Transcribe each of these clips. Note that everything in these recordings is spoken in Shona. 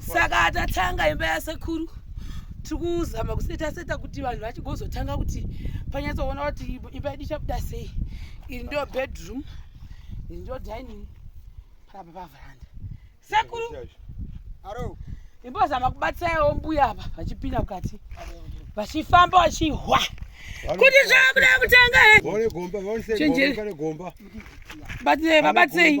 saka tatanga imba yasekuru tiri kuzama kuseta seta kuti vanhu vachigozotanga kuti panyatsoona kuti imba yedu ichabuda sei iri ndo bedroom iri ndo dining parapa pavaranda sekuru imbozama kubatsirawo mbuya apa vachipinda mukati vachifamba vachihwa kuti zvakuda kutanga chenjeri babatsei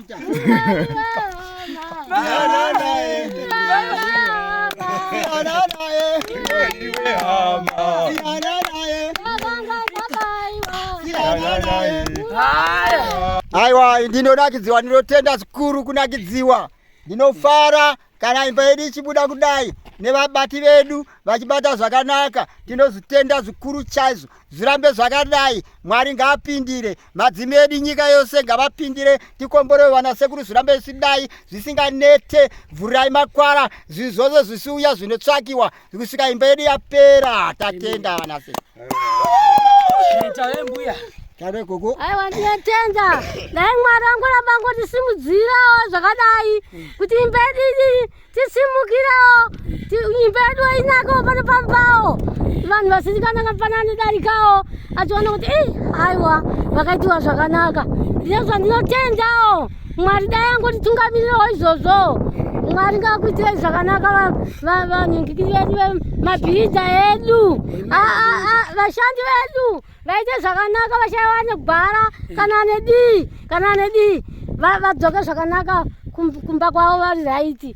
Aiwa, ndinonakidziwa, ndinotenda zvikuru kunakidziwa, ndinofara kana imba yedu ichibuda kudai nevabati vedu vachibata zvakanaka tinozvitenda zvikuru chaizvo zvirambe zvakadai mwari ngaapindire madzimi edu nyika yose ngavapindire tikomborewe vana sekuru zvirambe zvichidai zvisinganete vhurai makwara zvinhu zvose zvisiuya zvinotsvakiwa kusvika imba yedu yapera tatenda vana sekuru Tave mbuya. Tave gogo. Aiwa ndiyatenda. Dai mwari wangu ramba ngotisimudzirawo zvakadai kuti imba yedu tisimukirawo imba yedu inako pano pambawo vanhu vasizikananga pana anodarikawo achiona kuti ei aiwa vakaitiwa zvakanaka ndizvo zvandinotendawo mwari dai angotitungamirirawo izvozvo mwari ngakuitirei zvakanaka vanhingikiri vedu vemabhirija edu vashandi vedu vaite zvakanaka vashaiwa negwara kana nedii kana nedii vadzoke zvakanaka kumba kwavo vari raiti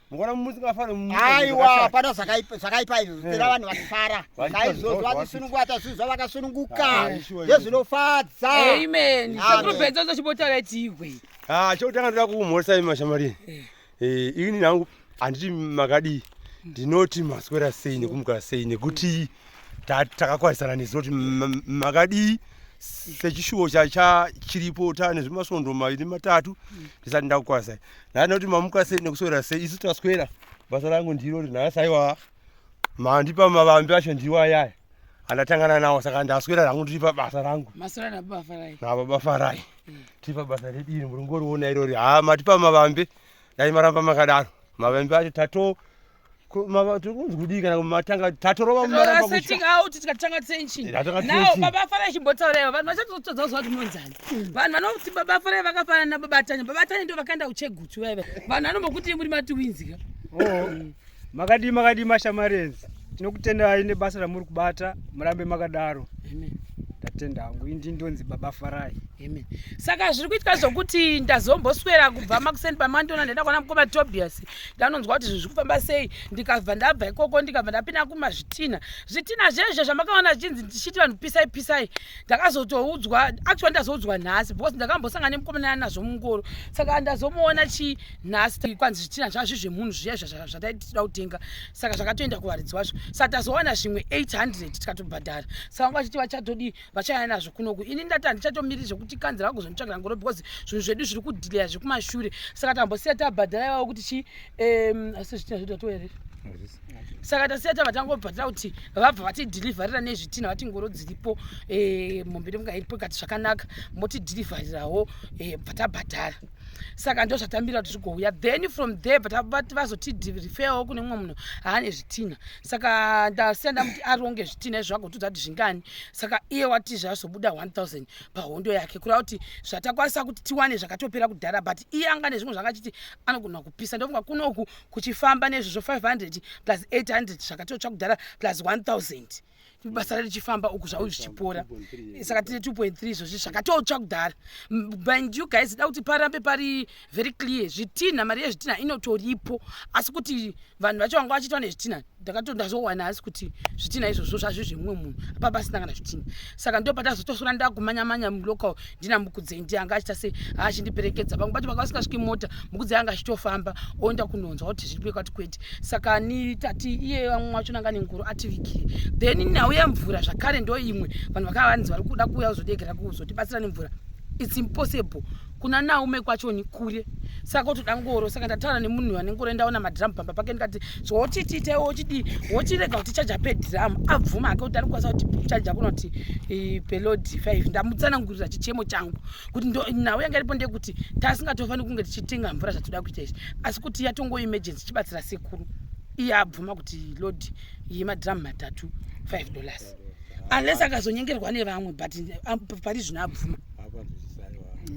mukona musingafani aiwa hapana zvakaipa izvo zvitira vanhu vakifara saizvozvo vatisunungwata zvinhu zvavakasununguka zvezvinofadza amenakurubezozo chibotaura tiwe ha chekutanga ndoda kuumhorisa imi mashamari ini nangu handiti makadii ndinoti maswera sei nekumukara sei nekuti takakwarisana nezoti makadii sechishuwo chiripo tane zvemasondo maviri matatu ndisati ndakukwarisai Nana kuti mamuka sei nekuswera sei isu taswera basa rangu ndiro rinhasi aiwa mandipa mavambi acho ndiwo ayaya andatangana nawo saka ndaswera rangu ndiri pabasa rangu nababa farai mm. tiri pabasa redu iri murungoriona irori ha matipa mavambi dai maramba makadaro mavambi acho tato tiri kunzi kudii kana matanga tatorova mumarambauti tikatanga tenchi nao baba afara achimbotauraiva vanhu vachatotodza kuziva kuti monzani hmm. vanhu vanoti baba afarai vakafanana nababatanya babatanya ndo vakaenda kuchegutsu vaiva vanhu vanombokuti muri matiwinzika oh. hmm. makadii makadii mashamarenzi tinokutendai nebasa ramuri kubata murambe makadaro Amen ndatenda hangu indi ndonzi baba farai amen saka zviri kuitika zvokuti ndazomboswera kubva makuseni pamandiona ndaenda kuona mukoma tobias ndanonzwa kuti zvinhu zviri sei ndikabva ndabva ikoko ndikabva ndapinda kumazvitina zvitina zvezve zvamakaona zvichinzi ndichiti vanhu pisai pisai ndakazotoudzwa actually ndazoudzwa nhasi because ndakambosangana nemukomanana nazvo mungoro saka ndazomuona chii nhasi kwanzi zvitina zvazvi zvemunhu zviya zvataitida kutenga saka zvakatoenda kuvaridzi wazvo saka tazowana zvimwe 800 tikatobhadhara saka vanga vachiti vachatodii vachaya nazvo kunoku ini ndati handichatomiri zvekuti kanzi vakuzonitsvagira ngoro because zvinhu zvedu zviri kudhileya zvekumashure saka tambosiya tabhadhara ivavo kuti chi asi zvitina zvedu ato here saka tasiya tava tangobhadhara kuti vabva vatidhilivharira nezvitina vati ngoro dziripo eh, mombe nemuka iripo kati zvakanaka motidhilivharirawo eh, bva tabhadhara saka ndo zvatambira kuti zvigouya then from there but vazotidhirifeyawo kune mumwe munhu haane zvitina saka ndasiya ndamuti aronge zvitine zvago todzati zvingani saka iye wati zvazobuda 1000 pahondo yake kureva kuti zvatakwanisa kuti tiwane zvakatopera kudhara but iye anga nezvimwe zvanga achiti anogona kupisa ndofunga kunoku kuchifamba nezvezvo 500 plus 800 zvakatotsva kudhara plus 1000 basa richifamba uku zvau zvichipora saka tine 2.3 izvozvi zvakatotsva kudhara bind you guys da kuti parambe pari very clear zvitinha mari yezvitinha inotoripo asi kuti vanhu vacho vanga vachiitwa nezvitinha ndakatondazouwana asi kuti zvitinha izvozvo zvazvi zvemumwe munhu apapasina kana zvitinha saka ndopatazotosora ndakumanyamanya mulocal ndina mukudzei ndiye anga achita sei achindiperekedza pamwe pacho vanga vasingasviki mota mukudzei anga achitofamba oenda kunonzwa kuti zviri kwekati kwete saka ni tati iye vamwe wacho nanga nengoro ativigire then nhau yemvura zvakare ndo imwe vanhu vakava vanzi vari kuda kuuya kuzodegera kuzotibatsira nemvura its impossible kuna naume kwacho ni kure saka otoda ngoro saka ndataura nemunhu ane ngoro endaona madhiramu pamba pake ndikati zvoti tiite wochidii wochirega kuti chaja pedhiramu abvuma hake kuti arikukwanisa kuti chaja kunoti eh, pelodi five ndamutsanangurira chichemo changu kuti nhau yanga iripo ndeyekuti tasingatofaniri kunge tichitenga mvura zvatoda kuita izvi asi kuti yatongo emergency chibatsira sekuru iye abvuma kuti lodi yemadhiramu matatu five dollars unless akazonyengerwa nevamwe but um, pari zvino abvuma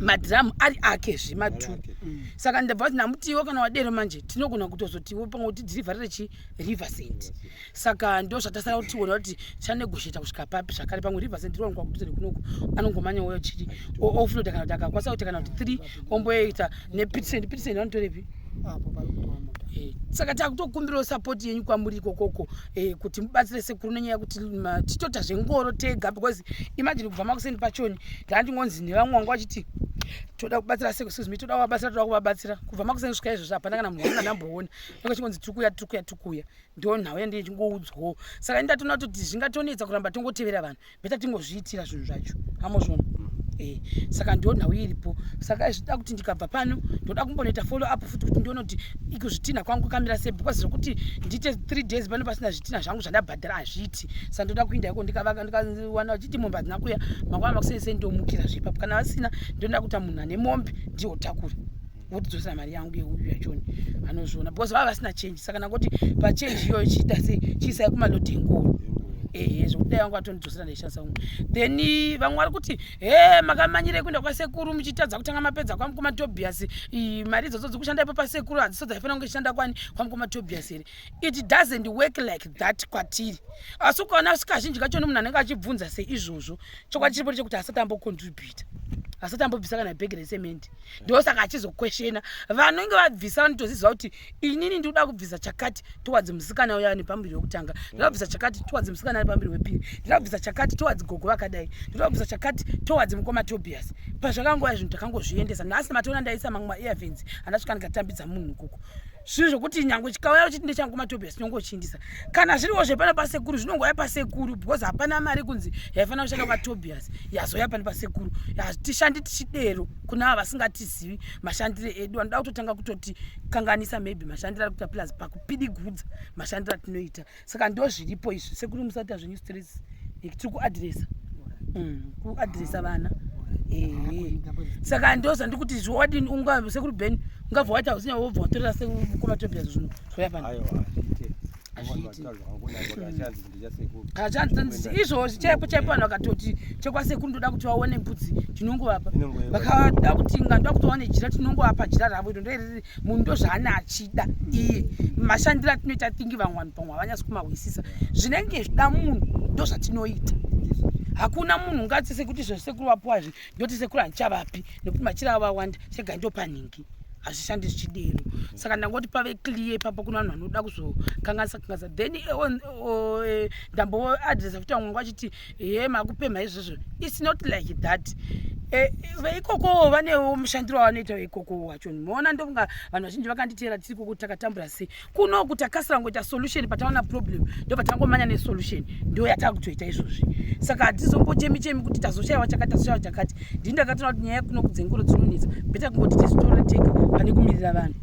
madhiramu ari ake zve matu mm. saka ndabva kuti namutiwo kana wadero manje tinogona kutozotiwo pamwe kuti dhirivharire chi river cent saka ndo zvatasara kuti tiona kuti chanegosheta kusvika papi zvakare pamwe river cent rowanikwa kuduzere kunoku anongomanya woyo chiri oflota kana kuti akakwanisa kuti kana kuti three omboita nepitisend pitisend vanotorepi eh, saka takutokumbirawo sapoti yenyu kwamuri ikokoko eh, kuti mubatsire sekuru nenyaya yekuti titoita zvengoro tega because imagine kubva makuseni pachoni ndandingonzi nevamwe wangu vachiti toda kubatsira seko excuse me toda kuvabatsira toda kuvabatsira kubva makuseni svika izvozvo hapana kana munhu anamboona nenge chingonzi tiri kuya tiri kuya tiri kuya ndo nhau yandine chingoudzwawo saka ini ndatoona kuti zvingatonetsa kuramba tongotevera vanhu beta tingozviitira zvinhu zvacho amozvona mm. eh, saka ndo nhau iripo saka zvida kuti ndikabva pano ndoda kumbonoita follow up futi kuti ndionoti ikuzvitinha kwangu kamira sei because zvekuti ndiite three days pano pasina zvitinha zvangu zvandabhadhara hazviiti saka ndoda kuinda iko ndikavaka ndikawana vachiti mombe hadzina kuya mangwana makuseni sei ndomukira zvepapo kana vasina ndoda kuita munhu ane mombe ndiwo takura votidzosera mari yangu yeuyu yachoni anozviona because vava vasina change saka nangoti pachange iyoyo chiita sei chiisai kumaloti enkoro ehe zvekuti dai vangu vatondidzosera ndaishandisa kumwe then vamwe vari kuti he makamanyirei kuenda kwasekuru muchitadza kutanga mapedza kwamukoma tobias mari idzodzo dziri kushanda ipo pasekuru hadziso dzaifanira kunge ichishanda kwani kwamukoma tobias here it doesn't work like that kwatiri asi ukaona sikazhinji kacho nemunhu anenge achibvunza seizvozvo chokwadi chiripo chekuti asati ambocontributa asati ambobvisa kana bhegi resemende ndosaka achizokweshena vanenge vabvisa vanotoziva kuti inini ndikuda kubvisa chakati towards musikana uya nepambiri wekutanga ndinoda kubvisa chakati towards musikana ari pambiri wepiri ndinoda kubvisa chakati towards gogo vakadai ndinoda kubvisa chakati towards mukoma tobias pazvakangouya zvinhu takangozviendesa nhasi matoona ndaisa mamwe maearvens andasvika ndikatambidza munhu ikoko zvinhu zvekuti nyange chikauya uchiti ndechangu matobes chinongochindisa kana zviriwo zvepana pasekuru zvinongouya pasekuru because hapana mari kunzi yaifanira kushanda kwatobias yazouya pani pasekuru hatishandi tichidero kuna ava vasingatizivi mashandire edu vanoda kutotanga kutoti kanganisa maybe mashandire ari kuita plus pakupidigudza mashandire atinoita saka ndozviripo izvi sekuru musati azvenyu stress tiri kuadresa mm, kuadresa vana saka ndoza ndikuti zviwadini unga sekuru ben ungabva waita usinya wobva watorera sekukoma tobia zvinhu zvoya pana izvozvi chaipo chaipo vanhu vakatoti chekwasekuru ndoda kuti vaone mbudzi tinongovapa vakada kuti nga ndoda kuti vaone jira tinongovapa jira ravo iro ndoiriri munhu ndozvaane achida iye mashandiro atinoita thingi vamwe vanhu pamwe havanyasi kumahwisisa zvinenge zvida munhu ndozvatinoita hakuna munhu ungati sekuti zvo sekuru vapuwa zvi ndoti sekuru handichavapi nekuti machira avo vawanda chega ndopanhingi hazvishandi zvichidero saka ndangoti pave clear ipapo kuna vanhu vanoda kuzokanganisa kanganisa then eh, eh, ndamboadresa futi vamwe vangu vachiti Ehe makupemha izvozvo. It's not like that. Eh, veikokowo vanewo mushandiro wavanoita veikokowo wacho moona ndokunga vanhu vazhinji vakanditeera tiri koko takatambura sei kunoku takasira kungoita solution pataona problem ndo patangomanya nesolution ndo yatava kutoita izvozvi saka hatizombochemi chemi kuti tazoshaiwa chakati tazoshaiwa chakati ndini ndakatoona kuti nyaya kunoku dzengoro dzinonetsa beta kungoti tizitora tega pane kumirira vanhu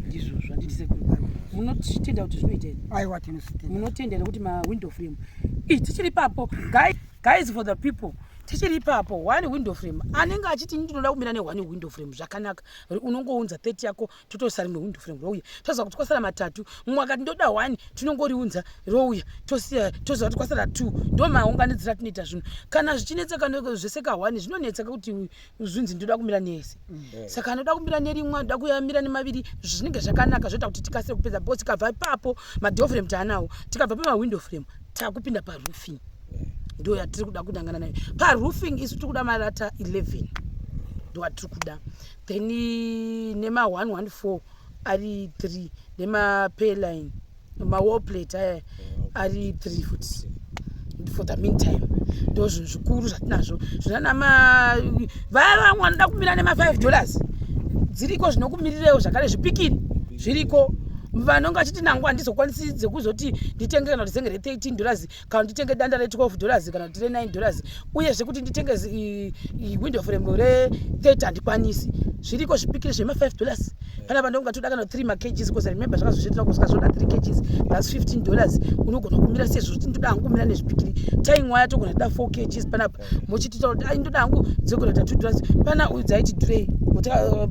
ndizvozvo handiti sekuru munotitenda kuti zvinoita here aiwa tinotenda munotenda here kuti mawindow frame Ii, tichiri ipapo guys, guys for the people tichiri ipapo one window frame anenge achiti ndinoda kumira ne one window frame zvakanaka unongounza 30 yako totoisa rimwe window frame rouya toziva kuti kwasara matatu mumwe akati ndoda one tinongoriunza rouya tosiya toziva kuti kwasara two ndo maunganidzira tinoita zvinhu kana zvichinetseka zvese ka one zvinonetseka kuti zvinzi ndoda kumira nese mm. saka anoda kumira nerimwe anoda kuyamira nemaviri zvinenge zvakanaka zvoita kuti tikasire kupedza bcause tikabva ipapo madoor frame taanawo tikabva pamawindow frame takupinda paroofing ndo yatiri kuda kunangana nayo paroofing isu tiri kuda marata 11 ndo atiri kuda then nema 114 ari 3 nemapairline mawallplate aya ari three fut for the meantime ndo zvinhu zvikuru zvatinazvo zvinanama vaya vamwe vanoda kumira nemafive dollars dziriko zvinokumirirewo zvakare zvipikini zviriko vanonge vachiti nangu handizokwanisi dzekuzoti nditenge kana kuti zenge re 13 dollars kana nditenge danda re 12 dollars kana kuti re 9 dollars uye zvekuti nditenge window frame re 30 handikwanisi zviriko zvipikiri zvema 5 dollars panapa ndongatoda kana 3 macages because remember zvakazozviitira kusvika zvoda 3 cages plus 15 dollars unogona kumira sezvo kuti ndoda hangu kumira nezvipikiri tying waya togona toda 4 cages panapa mochitita kuti ai ndoda hangu dzogona ta 2 dollars pana uyu dzaiti durei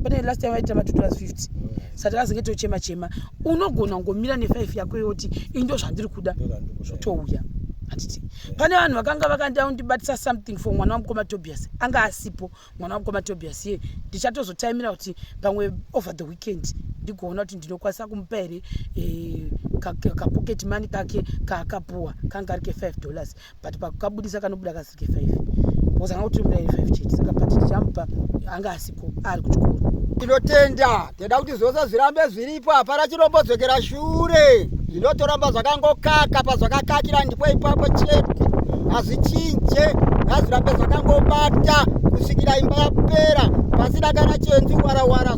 pane last time vaitira ma 2 dollars 50 sati azinge tochema chema unogona kungomira nefive yako yoti ini ndo zvandiri kuda zvotouya handiti pane vanhu vakanga vakanda undibatisa something for mwana wamukoma tobias anga asipo mwana wamukoma tobias ye ndichatozotaimira kuti pamwe over the weekend ndigoona kuti ndinokwanisa kumupa here eh, kapocket money kake kaakapuwa kanga ari ke five dollars but pakukabudisa kanobuda kasike five because anga kutombira iri five chete saka but tichamupa anga asiko ari kuchikoro tinotenda tinoda kuti zvose zvirambe zviripo hapana chinombodzokera shure zvinotoramba zvakangokaka pazvakakakira ndipo ipapo chete hazvichinje ngazvirambe zvakangobata kusvikira imba yapera pasina kana chenzi warawara